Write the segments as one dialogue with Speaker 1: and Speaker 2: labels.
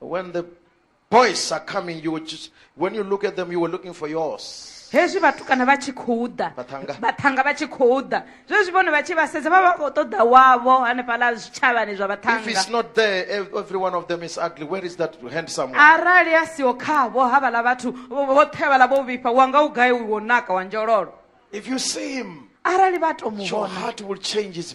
Speaker 1: When the boys are coming, you will just, when you look at them, you were looking for yours. hezwi vhatukana vha tshi khou ḓa Vhaṱhanga. vhaṱhanga vha tshi khou ḓa zwezwi vhone vha tshi vha sedza vha vha khou ṱoḓa wavho hanefhaḽa zwitshavhani zwa If it's vhaṱhanga not there, ev- every one of them is ugly. Where is that handsome one? arali a siho khavho havhaḽa vhathu vho- vhoṱhe vhaḽa vho vhifha wa nga u gai wo naka wa njololo If you see him, arali vha to mu your vhona heart will change. His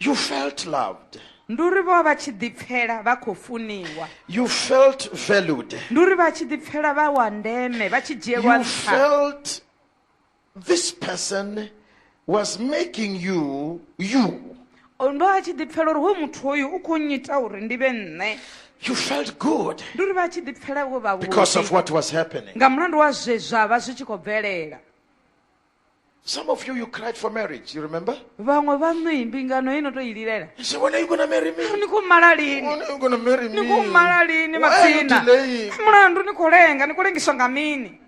Speaker 1: You felt loved. ndi uri vho vha vha tshi ḓipfela vha khou funiwa You felt valued. ndi uri vha tshi ḓipfela vha wa ndeme vha tshi dzhielwa You nṱha felt this person was making you you. O, ndo vha tshi ḓipfela uri hoyu muthu hoyu u khou nnyita uri ndi vhe nṋe You felt good ndi uri vha tshi ḓipfela vho because of vhavhuḓi what was happening. nga mulandu wa zwe zwa vha zwi tshi khou bvelela Some of you, you cried for marriage, you remember? vhaṅwe vhaṋu i mbingano ino to i lilela You say, when are you going to marry me? ni khou mala lini When are you going to marry ni khou me? mala lini Why are you matsina delaying? mulandu ni khou lenga ni khou lengiswa nga mini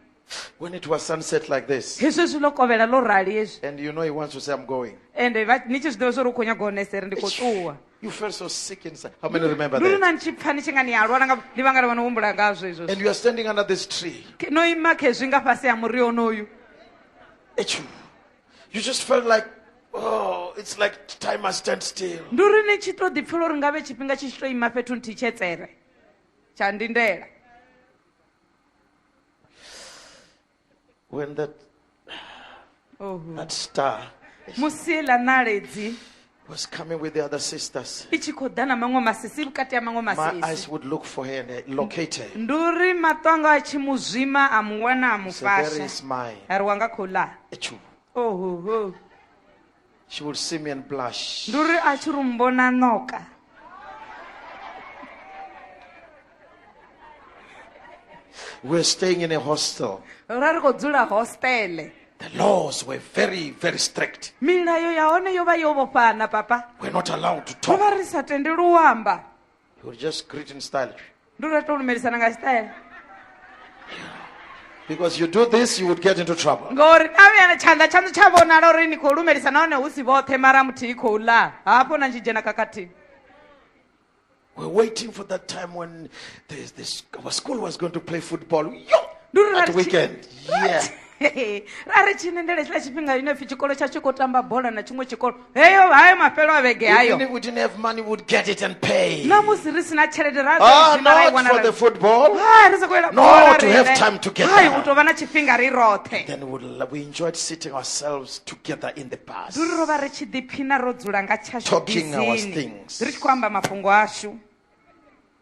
Speaker 1: When it was sunset like this, hezwi zwi ḽo kovhela ḽo rali hezwi and you know he wants to say, I'm going. ende vha- ni tshi zwi ḓivha zwa uri u khou nyaga u honesa ri ndi khou ṱuwa You felt so sick inside. How many remember lulu that? na ni tshi pfa ni tshi nga ni a lwala nga ndi vhanga lavha no humbula ngazwo izwo And you are standing under this tree. Ke- no ima khezwi nga fhasi ha muri onoyu Achoo. You just felt like, oh, it's like time must stand still. ndi uri ni tshi to ḓipfela uri ngavhe tshifhinga tshi tshi to ima fhethu nthihi tshetsere tsha ndindela when that, Oh. that star musi heiḽa ṋaledzi was coming with the other sisters, i tshi khou ḓa na maṅwe masisi vhukati ha maṅwe my eyes masisi would look for her and I locate her. ndi uri maṱo anga a tshi mu zwima a mu wana a mu So there fasha is my a ri wanga khou ḽa issue. ohoho She will see me and blush. Ndi uri a tshi ri mbona ṋoka. We're staying in a hostel. Ra ri khou dzula hostele. The laws were very, very strict. Milayo ya hone yo vha yo vhofhana papa. We're not allowed to talk. Ro vha ri sa tendelwi u amba. He would just greet in style. Ndi uri a tou lumelisana nga style. Because you do this, you would get into trouble. Ngori na vhuyana tshanḓa tshaṋu tsha vhonala uri ni khou lumelisa nahone hu si vhoṱhe mara muthihi khou ḽa. Hafho na tshi dzhena khakhathini. We're waiting for that time when the, the, our school was going to play football. Yo! At weekend. Yeah. Hei, ra ri tshi nendela hetshiḽa tshifhinga ine pfi tshikolo tsha tshi khou tamba bola na tshiṅwe tshikolo heyo hayo mafhelo a vhege Even hayo if we didn't have money, we'd get it and pay. na musi ri si na tshelede ra Ah, dzhena ra i not wana for ra- the football. Hai, ri sa khou yela No, bola to have riṋe. time to get Hai, down. u tou vha na tshifhinga ri roṱhe Then we'd, lo- we enjoyed sitting ourselves together in the bus. ndi uri ro vha ri tshi ḓiphina ro dzula nga tshashu Talking our bisini things. ri tshi khou amba mafhungo ashu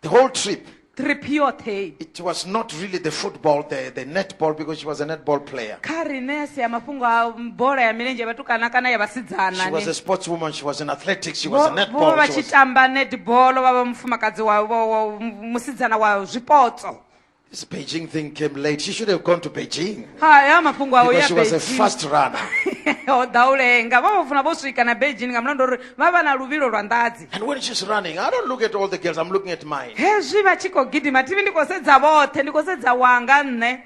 Speaker 1: The whole trip, trip yoṱhe it was not really the football, the, the netball, because she was a netball player. kha rine si ya mafhungo a bola ya milenzhe ya vhatukana kana ya vhasidzana She was ne. a sportswoman, she was in athletics, she was a Vho- vho vha netball. vha she tshi was- tamba netball vha vha mufumakadzi wa wa- wa- musidzana wa zwipotso This Beijing thing came late. She should have gone to Beijing. ha ya mafhungo awo Because ya she was a Beijing. fast runner. o ḓa u lenga vha vha funa vho swika na beijing nga mulandu uri vha vha na luvhilo lwa nḓadzi And when she's running, I don't look at all the girls, I'm looking at mine. hezwi vha tshi khou gidima thivi ndi khou sedza vhoṱhe ndi khou sedza wanga nṋe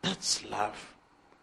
Speaker 1: That's love.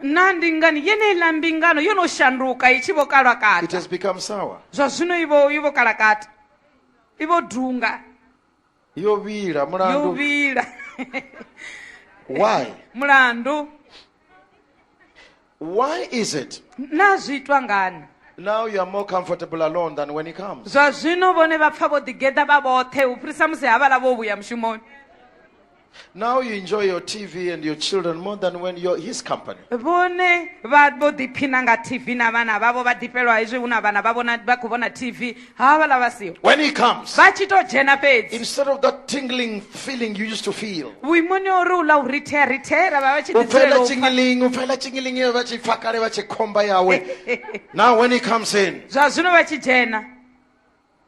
Speaker 1: naa ndi ngani yeneiḽa mbingano yo no shanduka i tshi vho kalwa It kata has become sour. zwa zwino i vho i vho kala kata i vho dunga Yo vhila yo mulandu. vhila Why? mulandu Why is it naa zwi itwa ngani now you are more comfortable alone than when he comes? zwa zwino vhone vha pfha vho ḓigeḓa vha vhoṱhe u fhirisa musi havhala vho vhuya mushumoni Now you enjoy your TV and your children more than when you're his company. vhone vha vho ḓiphina nga tv na vhana vhavho vha ḓifhelwa hezwi hu na vhana vha vhona vha khou vhona tv havhaḽa vha siho When he comes, vha tshi to dzhena fhedzi instead of that tingling feeling you used to feel, vhuimoni ha uri u ḽa u rithea rithea ra vha vha tshi ḓi dzulela ufela u pfa. chingiling, ufela chingiling, ye vha tshi pfa kale vha tshi khomba yawe. Now when he comes in, zwa zwino vha tshi dzhena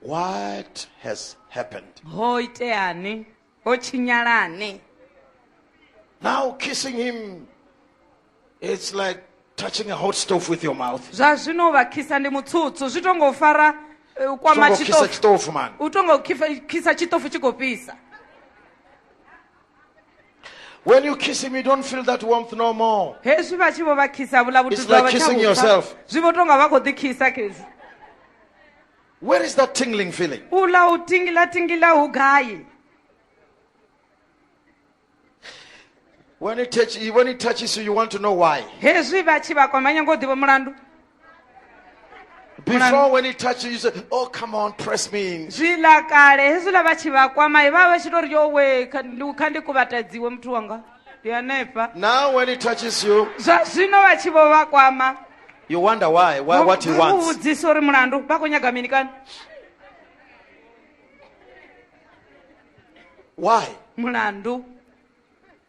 Speaker 1: What has happened? ho iteani ho tshinyalani Now kissing him, it's like touching a hot stove with your mouth. zwa zwino u vha khisa ndi mutsutsu zwi to ngo fara eh, u kwama Songo kisa tshiṱofu chitofu man. u to ngo khifa- khisa tshiṱofu tshi khou fhisa When you kiss him, you don't feel that warmth no more. hezwi vha tshi vho vha khisa vhula vhuthu It's zwa like vha tsha kissing vhupfa. yourself. zwi vho tonga vha khou ḓi khisa khezi Where is that tingling feeling? u ḽa u tingila tingila hu gai When it, touch, when it touches you, you want to know why. hezwi vha tshi vha kwama nyanga u ḓivha mulandu Before, when he touched you, you said, Oh, come on, press me in. zwiḽa kale hezwiḽa vha tshi vha kwamai vha vha vha tshi tou ri yo we kha ndi- kha ndi kuvhatadziwe muthu wanga ndi hanefha Now, when he touches you, zwa zwino vha tshi vho vha kwama you wonder why, why what he u wants. vhudzisa uri mulandu vha khou nyaga mini kani Why? mulandu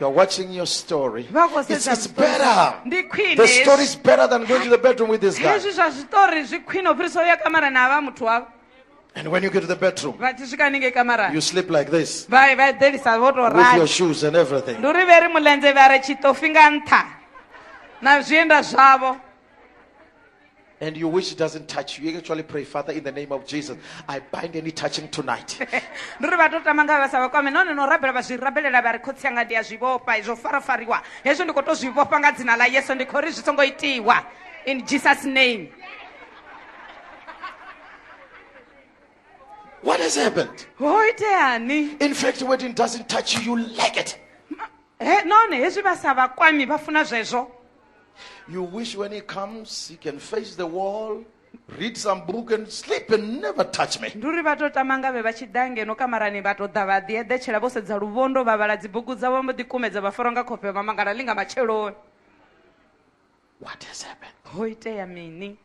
Speaker 1: You're watching your story. vha khou It's, sedza it's zwiṱori better. zwavho. ndi khwine The story is better than going to the bedroom with this guy. hezwi zwa zwiṱori zwi khwine u fhirisa uya kamara na vha muthu wavho And when you get to the bedroom, vha tshi swika haningei kamarani you sleep like this vha vha eḓelisa vho tou with your rali shoes and everything. ndi uri vhe ri mulenzhe vha re tshitofi nga nṱha na zwienda zwavho and you wish it doesn't touch you, you actually pray, Father, in the name of Jesus, I bind any touching tonight. ndi uri vha to
Speaker 2: tama nga vha sa vha kwame nahone no rabela vha zwi rabelela vha ri khotsi anga ndi a zwi vhofha izwo farafariwa hezwo ndi khou to zwi vhofha nga dzina ḽa yesu ndi khou ri zwi songo itiwa in jesus name
Speaker 1: What has happened? ho iteani
Speaker 2: In fact, when it
Speaker 1: doesn't touch you, you like it. he nahone
Speaker 2: hezwi vha sa vha kwami vha funa zwezwo You
Speaker 1: wish when he comes, he can face the wall, read some book and sleep and never touch me. ndi uri vha tou tama ngavhe vha
Speaker 2: tshi ḓa ngeno kamarani vha tou ḓa vha ḓi eḓetshela vho sedza luvhondo vha vhala dzibugu dzavho vha mbo ḓi kumedza vha fara nga khofhe vha mangala ḽi nga matsheloni
Speaker 1: What has happened? ho itea mini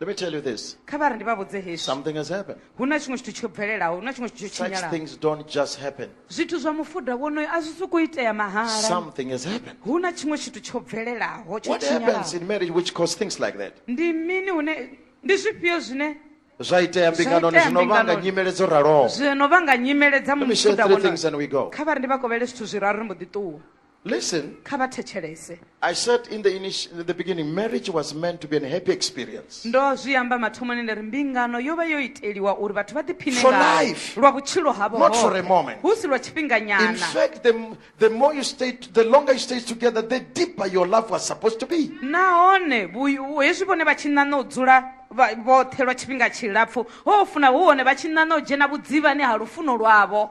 Speaker 1: Let me tell you this. kha vha ri ndi vha vhudze hezwi Something has happened. hu na tshiṅwe tshithu tsho bvelelaho hu na tshiṅwe tshithu tsho Such tshinyalaho things don't just happen. zwithu zwa mufuda wonoyo a zwi sokou itea mahala Something has happened. hu na tshiṅwe tshithu tsho bvelelaho tsho What happens tshinyalaho in marriage which causes things like that? ndi mini hune ndi zwifhio zwine Zwa itea mbinganoni itea zwino vhanga mbinganoni. nyimele dzo raloho. zwino vha nga nyimele dza Let me share mufuda three wonoyo things and we go. kha vha ri ndi vha kovhele zwithu zwiraru ri mbo ḓi ṱuwa Listen. kha vha thetshelese I said in the, initi- in the beginning, marriage was meant to be a happy experience. ndo zwi amba mathomoni nda ri mbingano yo vha yo iteliwa uri vhathu vha ḓiphine For ngayo life. lwa vhutshilo havho Not for a hoṱhe. moment. hu si lwa In tshifhinganyana fact, the, m- the more you stay, t- the longer you stay together, the deeper your love was supposed to be. nahone vhu- vhu- hezwi vhone vha tshi ṋaṋa u dzula vha- vhoṱhe lwa tshifhinga tshilapfu ho funa hu hone vha tshi ṋaṋa u dzhena vhudzivhani ha lufuno lwavho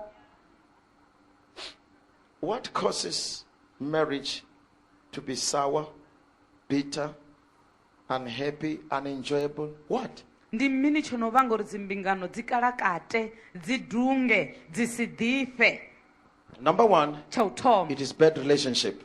Speaker 1: What causes marriage to be sour, bitter, unhappy, unenjoyable? What? ndi mini tsho no vhanga uri dzimbingano dzi kalakate dzi dunge dzi si ḓifhe Number one, tsha u thoma it is bad relationship.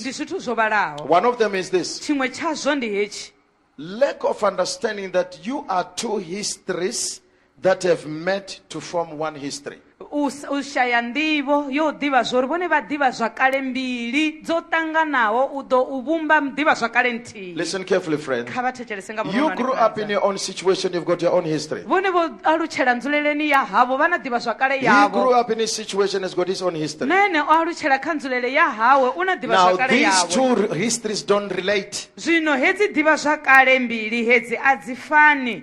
Speaker 1: Ndi zwithu zwo vhalaho. One of them is this. Tshiṅwe tshazwo ndi hetshi. Lack of understanding that you are two histories that have met to form one history. u s-
Speaker 2: u shaya nḓivho yo ḓivha zwori vhone vha ḓivha zwakale mbili dzo ṱanganaho u ḓo u vhumba ḓivha zwakale tshithihi Listen carefully, friends. kha
Speaker 1: vha thetshelese nga You
Speaker 2: grew up in vhuronwane your own
Speaker 1: situation, you've got your own history. vhone vho alutshela
Speaker 2: nzuleleni ya havho vha na ḓivha zwakale He grew yavho up in his
Speaker 1: situation, has got his own history. na ene o alutshela kha
Speaker 2: nzulele ya hawe u na ḓivha Now, zwakale these yawe two r- histories don't
Speaker 1: relate. zwino hedzi ḓivha
Speaker 2: zwakale mbili hedzi a dzi fani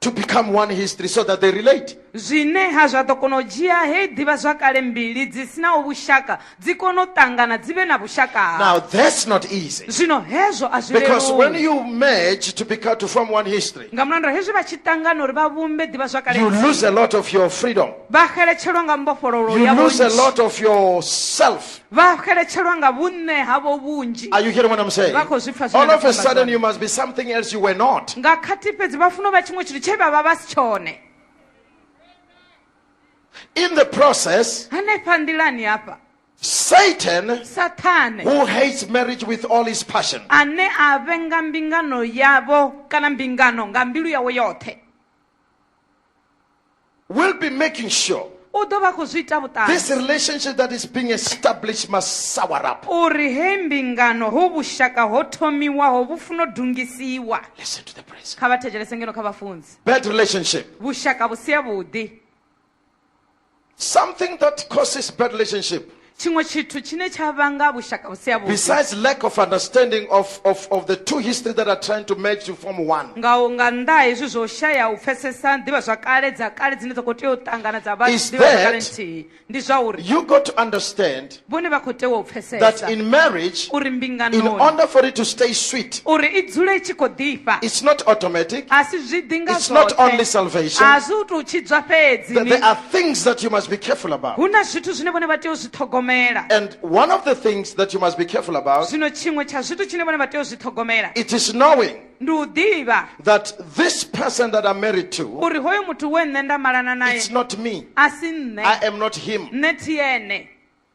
Speaker 1: to become one history so that they relate. zwineha zwa ḓo
Speaker 2: kona u dzhia heyi ḓivhazwakale mbili dzi sinaho vhushaka dzi kone u ṱangana dzi vhe na vhushaka Now that's not
Speaker 1: easy. zwino hezwo a
Speaker 2: zwi Because leluwi. when you
Speaker 1: merge
Speaker 2: to
Speaker 1: become to form one history, nga mulandu wa hezwi vha tshi
Speaker 2: ṱangana uri vha vhumbe ḓivhazwakale you nthihi, lose a lot of
Speaker 1: your
Speaker 2: freedom.
Speaker 1: vha xeletshelwa nga
Speaker 2: mbofhololo You ya lose a vhunzhi. lot of yourself.
Speaker 1: vha xeletshelwa
Speaker 2: nga vhunṋe havho vhunzhi Are you hearing what I'm saying? Vha
Speaker 1: khou zwi pfa zwine All nda of a khou amba
Speaker 2: sudden, zwone. you must be something else
Speaker 1: you were not. nga khathihi fhedzi vha
Speaker 2: funa u vha tshiṅwe tshithu tshe vha vha vha si tshone
Speaker 1: In the process, hanefha nḓilani
Speaker 2: hafha Satan,
Speaker 1: sathane
Speaker 2: who hates marriage
Speaker 1: with all his passion, ane a vhenga
Speaker 2: mbingano yavho kana mbingano nga mbilu yawe yoṱhe
Speaker 1: will be making sure u ḓo vha khou zwi ita
Speaker 2: vhuṱali this relationship that
Speaker 1: is
Speaker 2: being
Speaker 1: established must sour up. uri he mbingano
Speaker 2: hu vhushaka ho thomiwaho vhu funo dungisiwa Listen to the praise.
Speaker 1: kha vha thetshelese ngeno kha
Speaker 2: vhafunzi Bad relationship.
Speaker 1: vhushaka vhu si
Speaker 2: avhuḓi Something
Speaker 1: that causes bad relationship Tshiṅwe tshithu tshine
Speaker 2: tsha vhanga vhushaka vhu si havhuḓi. Besides lack of
Speaker 1: understanding of, of, of the two history that are trying to merge to form one. Nga nga nnḓa ha
Speaker 2: hezwi zwo shaya u pfesesa ḓivhazwakale dza kale dzine dza khou tea u ṱangana dza vha ḓivhazwakale nthihi. Ndi zwa
Speaker 1: uri.
Speaker 2: You got to understand.
Speaker 1: Vhone vha khou tea u
Speaker 2: pfesesa. That in marriage. Uri
Speaker 1: mbinganoni. In
Speaker 2: order
Speaker 1: for it
Speaker 2: to stay
Speaker 1: sweet. Uri i dzule i tshi
Speaker 2: khou ḓifha. It's not automatic.
Speaker 1: A si zwi ḓi nga zwoṱhe.
Speaker 2: It's not only
Speaker 1: salvation. A si
Speaker 2: u tou
Speaker 1: tshidzwa
Speaker 2: fhedzi. There are things that
Speaker 1: you must be careful about. hu na zwithu zwine vhone vha
Speaker 2: tea u zwi ṱhogomela And one of the
Speaker 1: things that you must be careful about, zwino tshiṅwe tsha zwithu
Speaker 2: tshine vhone vha tea u zwi ṱhogomela it is knowing
Speaker 1: ndi u ḓivha
Speaker 2: that this
Speaker 1: person that I'm married to, uri hoyo muthu we nṋe
Speaker 2: nda malana naye it's not me. a
Speaker 1: si
Speaker 2: I
Speaker 1: nṋe am
Speaker 2: not him. nṋe
Speaker 1: thi ene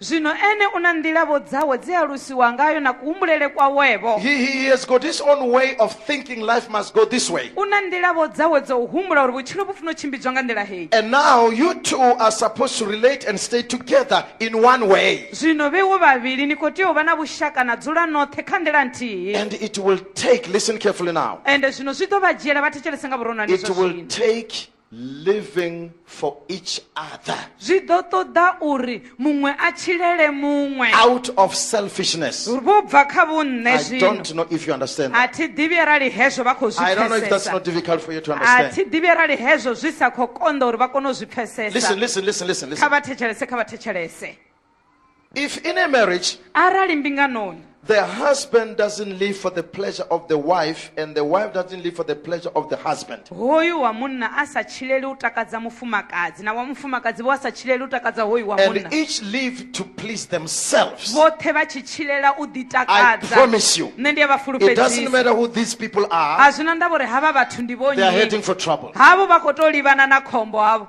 Speaker 1: zwino ene u na
Speaker 2: nḓila-vho dzawe dze a lusiwa ngayo na kuhumbulele kwawe-vho He, he, he has got his
Speaker 1: own way of thinking life must go this way. u na nḓila-vho dzawe
Speaker 2: dza u humbula uri vhutshilo vhu funa u tshimbidzwa nga nḓila heyi And now you two
Speaker 1: are supposed to relate and stay together in one way. zwino vheiwo vhavhili
Speaker 2: ni khou tea u vha na vhushaka na dzula noṱhe kha nḓila nthihi And it will
Speaker 1: take, listen carefully now, ende zwino zwi ḓo vha
Speaker 2: dzhiela vha thetshelese nga vhuronwane it zwa will zwino take
Speaker 1: living for each other zwi ḓo ṱoḓa
Speaker 2: uri muṅwe a tshilele muṅwe out of
Speaker 1: selfishness vho bva kha
Speaker 2: vhunṋe i don't know if
Speaker 1: you
Speaker 2: understand
Speaker 1: a thi ḓivhi arali
Speaker 2: hezwo vha khou zwi i don't know if that's not difficult
Speaker 1: for you to understand
Speaker 2: a
Speaker 1: thi ḓivhi arali hezwo
Speaker 2: zwi sa khou konḓa uri vha kone u zwi pfesesa listen listen listen listen
Speaker 1: kha vha thetshelese kha vha
Speaker 2: thetshelese If
Speaker 1: in a marriage, arali mbinganoni
Speaker 2: the husband
Speaker 1: doesn't live for the pleasure of the wife and the wife doesn't live for the pleasure of the husband, hoyu wa munna
Speaker 2: a sa tshileli u takadza mufumakadzi na wa mufumakadzi vho a sa tshileli u takadza hoyu wa munna and each live
Speaker 1: to please themselves, vhoṱhe vha tshi
Speaker 2: tshilela u I ḓitakadza promise you,
Speaker 1: nṋe
Speaker 2: ndi a vha it
Speaker 1: doesn't fulufhedzisa
Speaker 2: matter who
Speaker 1: these people
Speaker 2: a
Speaker 1: are, zwi na ndavha uri
Speaker 2: havha
Speaker 1: vhathu
Speaker 2: ndi they are vhonnyi heading for trouble.
Speaker 1: havho vha khou tou livhana
Speaker 2: na khombo havho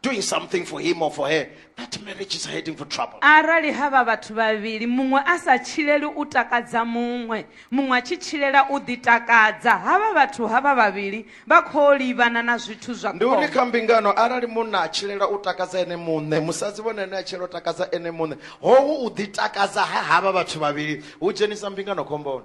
Speaker 1: doing something for him or for her, that marriage is heading for trouble. arali havha vhathu
Speaker 2: vhavhili muṅwe a sa tshileli u takadza muṅwe muṅwe a tshi tshilela u ḓitakadza havha vhathu havha vhavhili vha khou livhana na zwithu zwa Ndi uri khombo kha mbingano
Speaker 1: arali munna a tshilela u takadza ene muṋe musadzi vhone ane a tshilela u takadza ene muṋe hohu u ḓitakadza ha havha vhathu vhavhili hu dzhenisa mbingano khomboni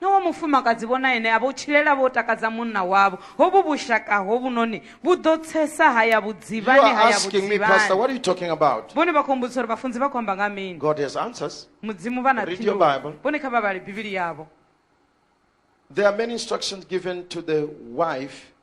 Speaker 2: Na wa mufumakadzi vho na ene a vho tshilela vho takadza munna wavho. Hovhu vhushaka hovhunoni vhu ḓo tsesa ha ya You vhudzivhani are ha ya asking me, Pastor, vhudzivhani. what are you talking about? Vhone vha khou mbudzisa uri vhafunzi vha khou amba nga ha mini. God has answers.
Speaker 1: Mudzimu vha na Read your
Speaker 2: phindulo. Bible. Vhone kha
Speaker 1: vha vhale Bivhili
Speaker 2: yavho.
Speaker 1: There are many instructions given to the wife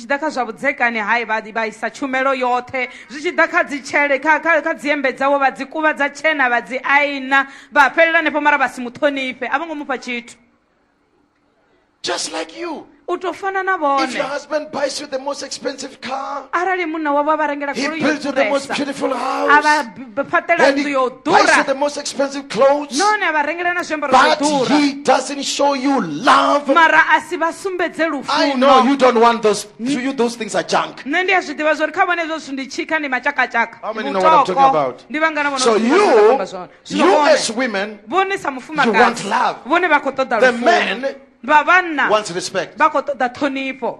Speaker 1: tshi ḓa kha zwa vhudzekani hai vha vha isa tshumelo yoṱhe zwi tshi ḓa kha dzitshele kha kha kha dziembe dzawe vha dzi kuvha dza tshena vha dzi aina vha fhelela hanefho mara vha si muṱhonifhe a vho ngo mufha tshithu Just like you. u tou fana na If your vhone husband buys you the most expensive car, arali munna wavho a vha rengela he goloi yo builds you the most ḓuresa beautiful a vha house. fhaṱela nnḓu yo ḓura nahone a vha rengela na zwiambaro zwa ḓura mara a si vha sumbedze lufunonṋe ndi a zwi ḓivha zwa uri kha vhone hezwo zwithu ndi tshikha ndi matshakatshaka vhutoko ndi vhangana vhonvhone sa mufumakadzi vhone vha khou ṱoḓa lufuno vha vhanna vha khou ṱoḓa ṱhonifho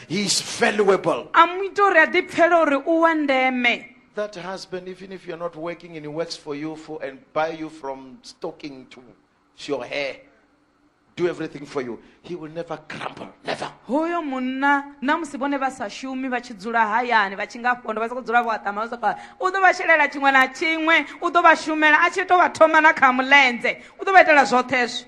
Speaker 1: He is valuable. a mu ita uri a ḓipfhela uri u wa ndeme That husband, even if you're not working and he works for you for and buy you from stocking to your hair, do everything for you, he will never crumble. Never. hoyo munna na musi vhone vha sa shumi vha tshi dzula hayani vha tshi nga pondo vha sokou dzula vho aṱama vha sokou u ḓo vha shelela tshiṅwe na tshiṅwe u ḓo vha shumela a tshi tou vha thoma na kha mulenzhe u ḓo vha itela zwoṱhe hezwo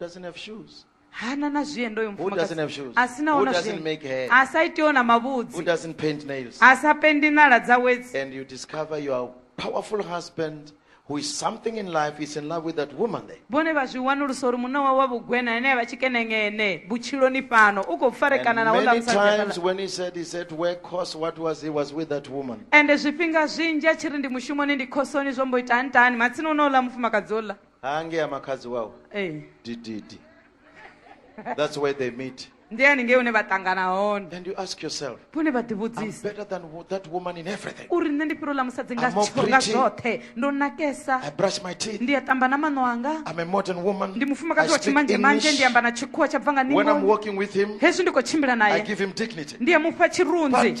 Speaker 1: doesn't have shoes? hana na zviendo uyo Who doesn't have shoes? mufumakadzi asina Who ona doesn't zviendo make hair? asaiti ona Who mavhudzi doesn't paint nails? asapendi nala dza wedzi And you discover your powerful husband who is something in life is in love with that woman there. vhone vha zwi wanulusa uri munna wawe wa vhugwena ane avha tshikenengene vhutshiloni fhano u khou farekana And na houḽa many musadzi times hafhaḽa. when he said he's at work, cause what was he was with that woman. ende zwifhinga zwinzhi a tshi ri ndi mushumoni ndi khosoni zwo mbo ita ntani matsina uno uḽa mufumakadzi uḽa haangea makhadzi wawe ee dididi that's where they meet ndi haningei une vha ṱangana hone and you ask yourself vhone vha i'm ḓivhudzisa better than wo- that woman in everything uri nṋe ndi fhiro ḽa musadzi nga I'm more tsho- nga pretty. zwoṱhe ndo nakesa i brush my teeth ndi a ṱamba na maṋo anga i'm a modern woman ndi I mufumakadzi wa speak tshimanzhe manzhe ndi English. amba na tshikhuwa tsha bva nga when i'm ningo walking with him hezwi ndi khou tshimbila i naye give him dignity ndi a mufha tshirunzi but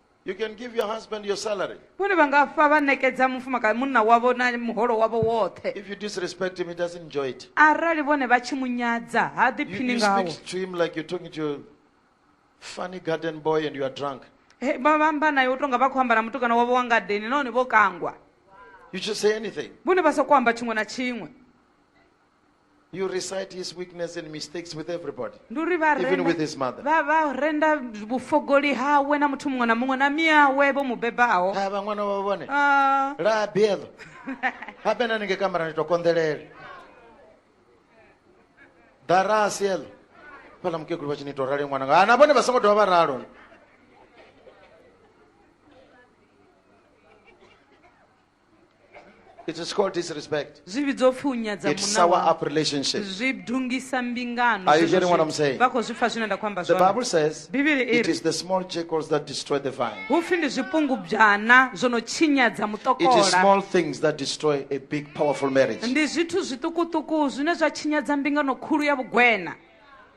Speaker 1: You can give your husband your salary. vhone vha nga fa vha ṋekedza mufumakadzi munna wavho na muholo wavho woṱhe If you disrespect him, he doesn't enjoy it. arali vhone vha tshi mu nyadza ha You, ḓiphini you ngawo speak to him like you're talking to a funny garden boy and you are drunk. He, vha vha amba naye u tonga vha khou amba na mutukana wavho wa ngadeni nahone vho kangwa You just say anything. vhone vha sokou amba tshiṅwe na tshiṅwe You recite his weakness and mistakes with everybody. ndi uri vha Even renda- with his mother. vha- vha renda vhufogoli hawe na muthu muṅwe na muṅwe na miawe vho mu bebaho Ha vha ṅwana wa vhone. Ah, La biedo. Ha bena ninge kamera ni to kondelele. Dara sielo. Pala mkekulu vha tshi ni to rali ṅwana. nga. Ana vhone vha songo dovha vha ralo. It is called disrespect. zvi vhidzwa upfi u nyadza It munna sour wau. up relationships. zwi dungisa mbingano Are you Zwezwo hearing what zwi- I'm saying? vha khou zwi pfa zwine nda khou amba The zwone Bible says bivhili i it ri is the small jackals that destroy the vine. hu pfi ndi zwipungubwana zwo no tshinyadza It is mutokola small things that destroy a big, powerful marriage. ndi zwithu zwiṱukuṱuku zwine zwa tshinyadza mbingano khulu ya vhugwena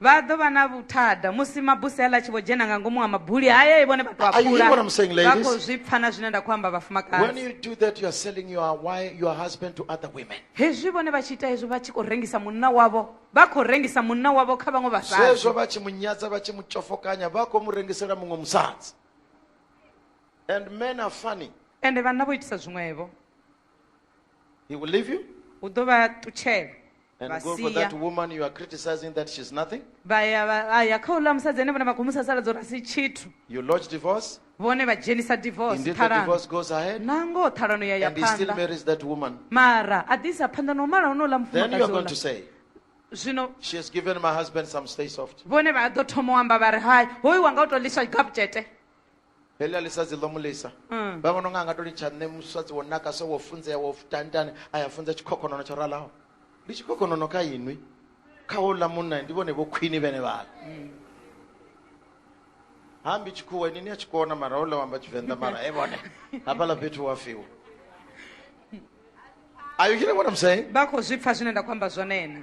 Speaker 1: Vha ḓo vha na vhuthada musi mabuse aḽa a tshi vho dzhena nga ngomu ha mabuli hayo, vhone vha tou a Are you hearing what I'm saying, pula. Vha ladies? khou zwi pfa na zwine nda khou amba When vhafumakadzi. you do that, you are selling your wife, your husband to other women. Hezwi vhone vha tshi ita hezwo vha tshi khou rengisa munna wavho, vha khou rengisa munna wavho kha vhaṅwe Zwezwo vhasadzi. vha tshi mu nyadza vha tshi mu tshofokanya vha khou mu rengisela muṅwe musadzi. And men are funny. Ende vhanna vho itisa zwiṅwevho. He will leave you u ḓo vha ṱutshela and vha go for sia that woman you are criticizing that she's nothing. vha ya vha- vha ya kha uḽa musadzi ane vhone vha khou musa sala dzo rasi tshithu You lodge divorce, vhone vha dzhenisa divorce indeed the ṱhalano divorce goes ahead, na ngoho ṱhalano ya ya and he still phanḓa marries that woman. mara a ḓi isa phanḓa no mala honouḽa Then you are going to mufumakadzi say, zwino She has given my husband some stay soft. vhone vha ḓo thoma u amba vha ri hai hoyu wanga u tou ḽiswa gaputshete heḽi a lisa dzi ḓo mu lisa mm. vha vhona unga a nga to litsha nṋe musadzi wo naka so wo funzea wo tantane a ya funza tshikhokhonono tsho ralaho ndi tshikhokhonono kha inwi kha houḽa munna ndi vhone vho khwini vhene vhala mm. hambi tshikhuwa ini ni a tshi kona mara houḽa wamba tshivenḓa mara e vhone hafhaḽa fhethu wa fiwa are you hearing what i'm saying vha khou zwi pfa zwine nda khou amba zwone ena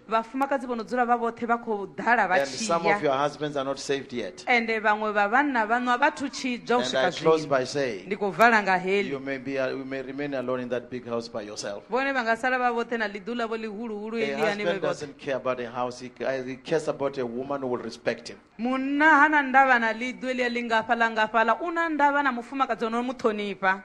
Speaker 1: Vhafumakadzi vho no dzula vha vhoṱhe vha khou ḓala vha And tshi some ya. of your husbands are not saved yet. Ende vhaṅwe vha vhanna vhaṋu a vha thu tshidzwa u And I swika close zwino. by saying, Ndi khou vala nga heḽi. you may, be, you may remain alone in that big house by yourself. Vhone vha nga sala vha vhoṱhe na ḽiḓu ḽavho ḽihuluhulu A heḽiani vhe husband vhoṱhe. doesn't care about a house, he, ca- he cares about a woman who will respect him. Munna ha na ndavha na ḽiḓu eḽia ḽingafha ḽa ngafhaḽa, u na ndavha na mufumakadzi o no mu ṱhonifha.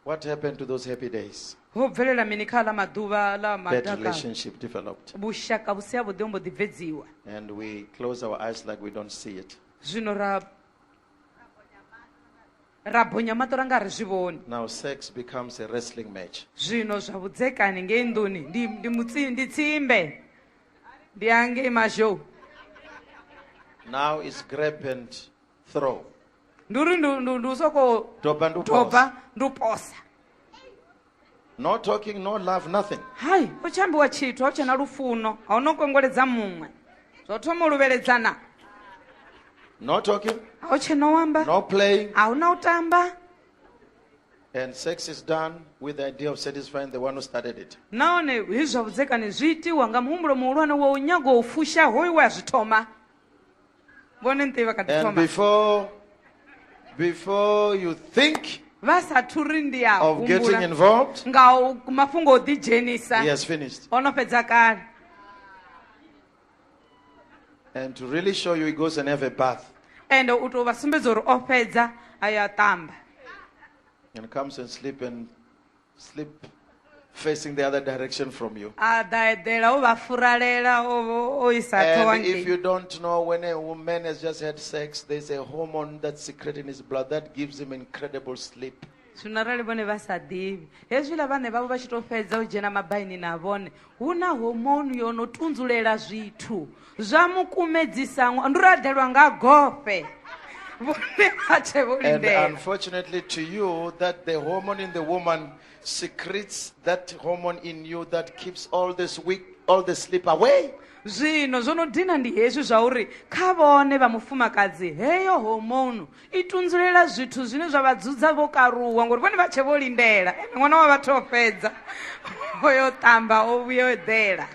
Speaker 1: What happened to those happy days? ho bvelela mini kha aḽa maḓuvha ḽa That madaka relationship developed. vhushaka vhu si havhuḓi ho mbo ḓi bvedziwa And we close our eyes like we don't see it. zwino ra ra bonya maṱo ra nga ri zwi vhoni Now sex becomes a wrestling match. zwino zwa vhudzekani ngei nḓuni ndi ndi mutsi ndi tsimbe ndi angei mazhou Now it's grab and throw. ndi uri ndi ndi- ndi u sokou topa ndi u topa posa. ndi u posa no talking no love nothing hayi u tshi ambiwa tshithu au tshena lufuno a u no kongoledza muṅwe zwo thoma u luvheledzana no talking a u tshena u amba no playing a hu na u tamba and sex is done with the idea of satisfying the one who started it nahone hezwi zwa vhudzekani zwi itiwa nga muhumbulo muhulwane wa u nyago u fusha hoyu we a zwi thoma vonenteyi va kha ḓi And thoma before, before you think vha sathu ri ndi a of getting humbula involved, nga u- mafhungo o ḓi dzhenisa he has finished. o no fhedza kale And to really show you, he goes and have a bath ende u tou vha sumbedza uri o fhedza a ya tamba and comes and sleep and slip facing the other direction from you. a ḓa eḓela o vha furalela o vho- o isa ṱhoho And if ngei you don't know, when a woman has just had sex, there's a hormone that's secreted in his blood that gives him incredible sleep. zwino arali vhone vha sa ḓivhi hezwiḽa vhane vhavho vha tshi tou fhedza u dzhena mabaini na vhone Hu na hormone yo no tunzulela zwithu zwa mu kumedzisa ṅwa- ndi radelwa nga gofhe vhone vha tshe vho And lindela unfortunately to you, that the hormone in the woman secretes that hormone in you that keeps all this weak, all the sleep away. zwino zwo no dina ndi hezwi zwa uri kha vhone vha mufumakadzi heyo hormone i tunzulela zwithu zwine zwa vha dzudza vho karuwa ngori vhone vha tshe vho lindela ene ṅwana wa vhathu o fhedza o yo ṱamba o vhuya o eḓela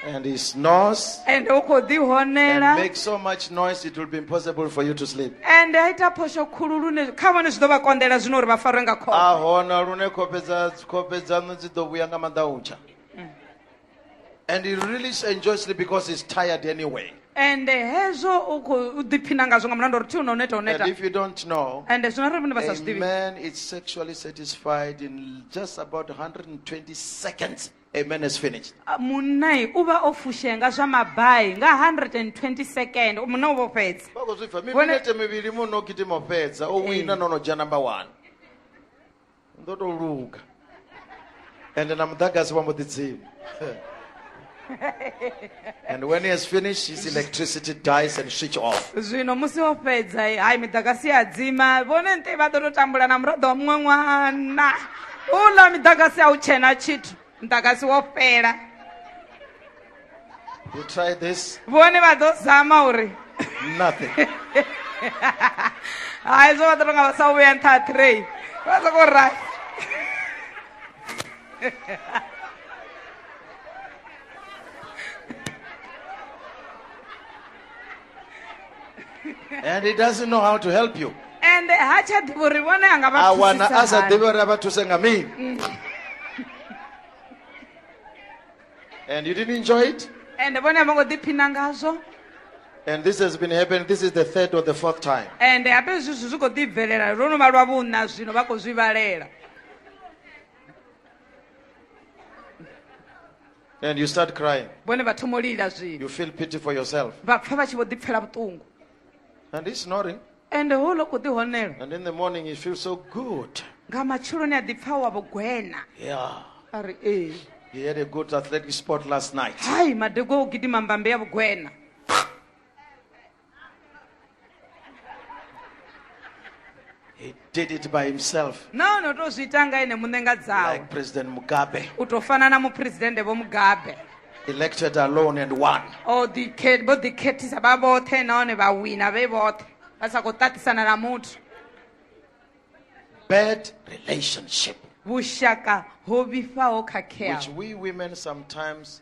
Speaker 1: And he snores ende u khou and ḓihonela makes so much noise it will be impossible for you to sleep. ende a ita phosho khulu lune kha vhone zwi ḓo vha konḓela zwino uri vha farwe nga khofhe A hona lune khofhe dza khofhe dzaṋu dzi ḓo vhuya nga maḓautsha. And he really enjoys it because he's tired anyway. And hezwo u khou ḓiphina ngazwo nga mulanda uri thi u no neta u neta And if you don't know, and zwino arali vhone vha sa zwi a ḓivhi man is sexually satisfied in just about 120 seconds. A man is finished. Ah, munnai u vha o fushea nga zwa mabai nga 120 second munna u vho fhedza Vha khou zwi pfa. Vhone- Miminete mivhili muno gidimo fhedza. O wina no no dzhia number one. ni ḓo tou luga ende na muḓagasi wa mbo ḓi dzima and when he has finished his electricity dies and switch off zwino musi o fhedza hai miḓagasi ya dzima vhone nte vha ḓo tou tambula na muraḓo wa muṅwe ṅwana uḽa miḓagasi a u tshena tshithu muḓagasi wo fhela You try this, vhone vha ḓo zama uri nothing. hai zwo vha ḓo tonga vha sa vhuya nṱha ha train vha soko ra and he doesn't know how to help you. ende ha tsha ḓivha uri vhone a nga vha A wana a sa thusisa ḓivhi hani. uri a vha thuse nga mini. And you didn't enjoy it? ende vhone a vho ngo ḓiphina ngazwo And this has been happening. This is the third or the fourth time. ende hafhe hezwi zwithu zwi khou ḓi bvelela lwo no vha lwa vhuna zwino vha khou zwi vhalela And you start crying. vhone vha thoma u lila zwino You feel pity for yourself. vha pfa vha tshi vho ḓipfela vhuṱungu And he's snoring. ende houḽa u khou ḓi honela And in the morning, he feels so good. nga matsheloni a ḓi pfha wa vhugwena Yeah. a ri ee He had a good athletic sport last night. hai madego a u gidima mbambe ya vhugwena He did it by himself nahone o tou zwi ita nga ene muṋe nga dzawe like President Mugabe u tou fana na muphuresidennde vho mugabe elected alone and won. o ḓikhe-
Speaker 2: vho ḓikhethisa vha vhoṱhe nahone vha wina vhe vhoṱhe vha sa khou ṱaṱisana na muthu
Speaker 1: Bad relationship, vhushaka
Speaker 2: ho vhifhaho which khakheaho we
Speaker 1: women sometimes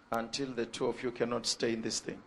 Speaker 1: until the two of you cannot stay in this thing.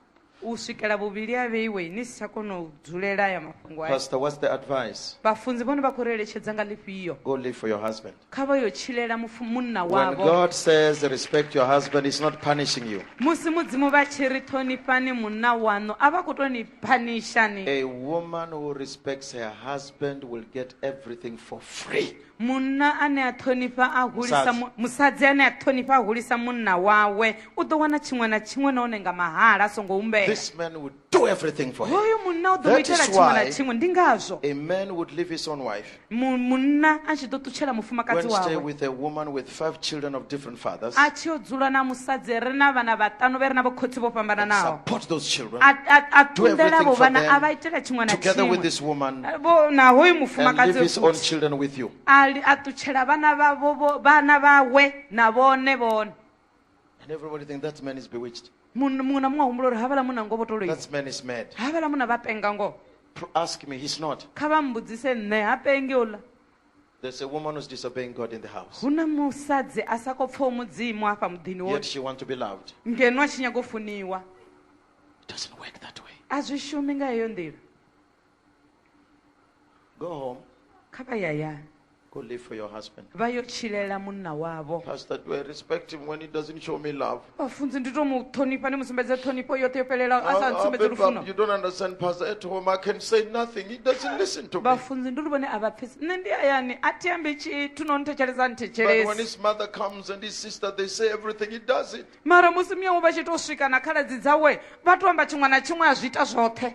Speaker 1: u swikela
Speaker 2: vhuvhili a vheiwe ni si tsha kona u dzulela aya mafhungo aya Pastor, what's the advice?
Speaker 1: vhafunzi vhone vha khou ri
Speaker 2: eletshedza nga ḽifhio Go live for your husband.
Speaker 1: kha vha yo tshilela
Speaker 2: mufu- munna When wavho God says respect
Speaker 1: your husband, He's not punishing you. musi mudzimu vha tshi
Speaker 2: ri ṱhonifhani munna waṋu a vha khou tou ni phanishani A woman
Speaker 1: who respects her husband will get everything for free. munna ane a
Speaker 2: ṱhonifha a hulisa mu- musadzi ane a ṱhonifha a hulisa munna wawe u ḓo wana tshiṅwe na tshiṅwe nahone nga mahala a songo humbela This man would do
Speaker 1: everything for her. hoyu munna u ḓo mu That itela
Speaker 2: is tshiṅwe na why- tshiṅwe
Speaker 1: ndi
Speaker 2: ngazwo A man would leave
Speaker 1: his own wife, mu- munna a tshi
Speaker 2: ḓo ṱutshela go mufumakadzi and stay wawe with a woman
Speaker 1: with five children of different fathers a tshi yo dzula na
Speaker 2: musadzi re na vhana vhaṱanu vhe re na vhokhotsi vho fhambananaho support those children a
Speaker 1: a- a Do ṱunḓela everything
Speaker 2: vho for vhana
Speaker 1: them a vha itela
Speaker 2: tshiṅwe
Speaker 1: na
Speaker 2: together with this tshiṅwe woman
Speaker 1: Eh, vho- na hoyu and leave
Speaker 2: mufumakadzi his own
Speaker 1: futhi. children
Speaker 2: with
Speaker 1: you a li- a ṱutshela
Speaker 2: vhana vhavho vho- vhana vhawe na vhone vhone and
Speaker 1: everybody think that man is bewitched Mun- muṅwe na muṅwe a humbula
Speaker 2: uri havhala munna ngo vho to loiwa that man is mad havhala
Speaker 1: munna vha penga
Speaker 2: ngoho Pr- ask me he's
Speaker 1: not kha vha mbudzise nṋe
Speaker 2: ha pengi uḽa There's a woman
Speaker 1: who's disobeying God in the house. hu na musadzi
Speaker 2: a sa khou pfaho mudzimu afha muḓini Yet woṱhe she wants to be loved.
Speaker 1: ngeno a tshi nyaga u
Speaker 2: funiwa It
Speaker 1: doesn't work that way. a zwi shumi nga heyo
Speaker 2: nḓila
Speaker 1: Go home. kha vha
Speaker 2: yayani Go live for your
Speaker 1: husband. vha yo tshilela
Speaker 2: munna wavho Pastor, do I respect
Speaker 1: him when he doesn't show me love? vhafunzi ndi to mu
Speaker 2: ṱhonifha ndi mu sumbedze ṱhonifho yoṱhe yo fhelelaho a sa I'll, I'll ntsumbedze be lufuno back. You don't understand,
Speaker 1: Pastor. At home, I can say nothing. He doesn't listen to me. vhafunzi ndi uri vhone a vha
Speaker 2: pfesi nṋe ndi hayani a thi ambi tshithu no nthetshelesa But when nthetshelesi his
Speaker 1: mother
Speaker 2: comes
Speaker 1: and his sister, they say everything. He does it. mara musi miyawe vha tshi
Speaker 2: to swika na khaladzi dzawe vha to amba tshiṅwe na tshiṅwe a zwi ita zwoṱhe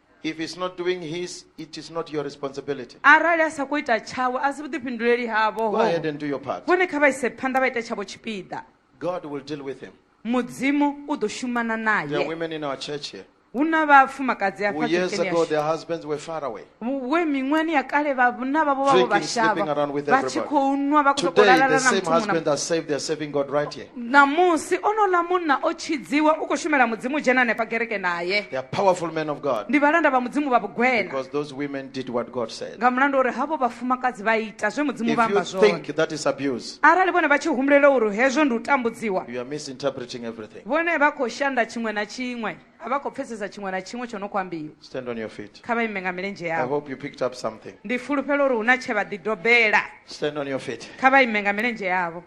Speaker 2: If he's not
Speaker 1: doing his, it is not your responsibility. arali a sa khou ita
Speaker 2: tshawe a si vhuḓifhinduleli havo Go ahead and do your part.
Speaker 1: vhone kha vha ise phanḓa vha
Speaker 2: ite tshavho tshipiḓa God will deal
Speaker 1: with him. mudzimu u
Speaker 2: ḓo shumana There are naye women in our
Speaker 1: church here hu na vhafumakadzi
Speaker 2: who afha years kerekeni ago yashu. their husbands were far
Speaker 1: away. we miṅwani ya
Speaker 2: kale vhana vhavho vhavho Drinking, sleeping vhashavha around with
Speaker 1: vha tshi everybody. khou nwa vha
Speaker 2: khou
Speaker 1: Today,
Speaker 2: sokou the lalala na same muthu muṅwe na husband
Speaker 1: has
Speaker 2: saved, they're serving
Speaker 1: God right here. ṋamusi onola
Speaker 2: munna o tshidziwa u khou shumela mudzimu dzhena hanefha kereke naye They are powerful men of
Speaker 1: God ndi vhalanda vha mudzimu vha
Speaker 2: vhugwena because those women did
Speaker 1: what God said. nga mulandu wa uri havho
Speaker 2: vhafumakadzi vha ita zwe mudzimu If vha you amba zwone think that is abuse,
Speaker 1: arali vhone vha tshi humbulela
Speaker 2: uri hezwo ndi u tambudziwa you are misinterpreting
Speaker 1: everything. vhone vha khou shanda
Speaker 2: tshiṅwe na tshiṅwe a vha khou pfesesa tshiṅwe na tshiṅwe tsho no khou ambiwa Stand on your feet. kha
Speaker 1: vha ime nga milenzhe I
Speaker 2: yavho hope you picked
Speaker 1: up
Speaker 2: something.
Speaker 1: ndi fulufhela uri hu na
Speaker 2: tshe vha ḓidobela Stand on your feet.
Speaker 1: kha vha ime nga milenzhe
Speaker 2: yavho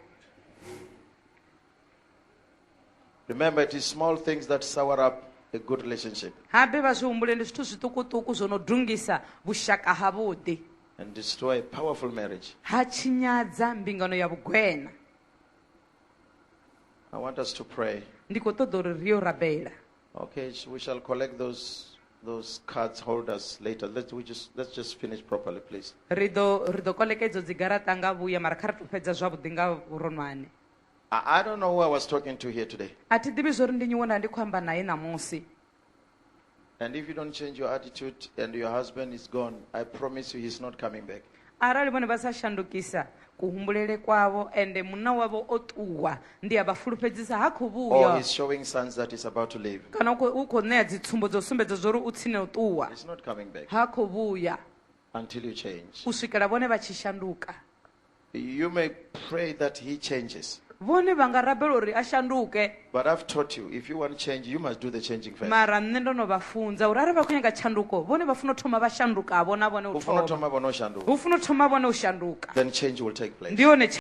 Speaker 1: Remember, it is small things that sour up a good relationship. habe vha zwi humbule
Speaker 2: ndi zwithu zwiṱukuṱuku zwo no dungisa vhushaka havhuḓi and destroy a
Speaker 1: powerful marriage. ha tshinyadza
Speaker 2: mbingano ya vhugwena
Speaker 1: I want us to pray. ndi khou ṱoḓa uri ri
Speaker 2: yo rabela Okay, we
Speaker 1: shall collect those those cards holders later. Let's we just let's just finish properly, please. ri ḓo ri ḓo
Speaker 2: koleka idzo dzigaraṱa nga vhuya mara kha ri to fhedza zwavhuḓi nga vhuronwane I, I don't
Speaker 1: know who I was talking to here today. a thi ḓivhi zwori ndi nyiwo
Speaker 2: nda ndi khou amba naye ṋamusi
Speaker 1: And if you don't change your attitude and your husband is gone, I promise you he's not coming back. Arali vhone vha sa
Speaker 2: shandukisa kuhumbulele kwavho, ende munna wavho o ṱuwa, ndi a vha fulufhedzisa ha khou Or vhuya. he's showing
Speaker 1: signs
Speaker 2: that
Speaker 1: he's about to leave. Kana u khou u khou ṋea
Speaker 2: dzitsumbo dzo sumbedza zwa uri u tsini u ṱuwa, He's not coming back ha khou vhuya
Speaker 1: until you
Speaker 2: change. u swikela
Speaker 1: vhone vha
Speaker 2: tshi shanduka.
Speaker 1: You may pray that he changes. Vhone vha nga rabela
Speaker 2: uri a shanduke. But I've taught you,
Speaker 1: if you want change, you must do the changing first. mara nṋe ndo no vha
Speaker 2: funza uri arali vha khou nyaga tshanduko vhone vha funa u thoma vha shandukavho na vhone u U funa u thoma thoma
Speaker 1: vhone
Speaker 2: u shanduka.
Speaker 1: hu
Speaker 2: funa u thoma
Speaker 1: vhone u
Speaker 2: shanduka Then change will take
Speaker 1: place. ndi
Speaker 2: yone tsha-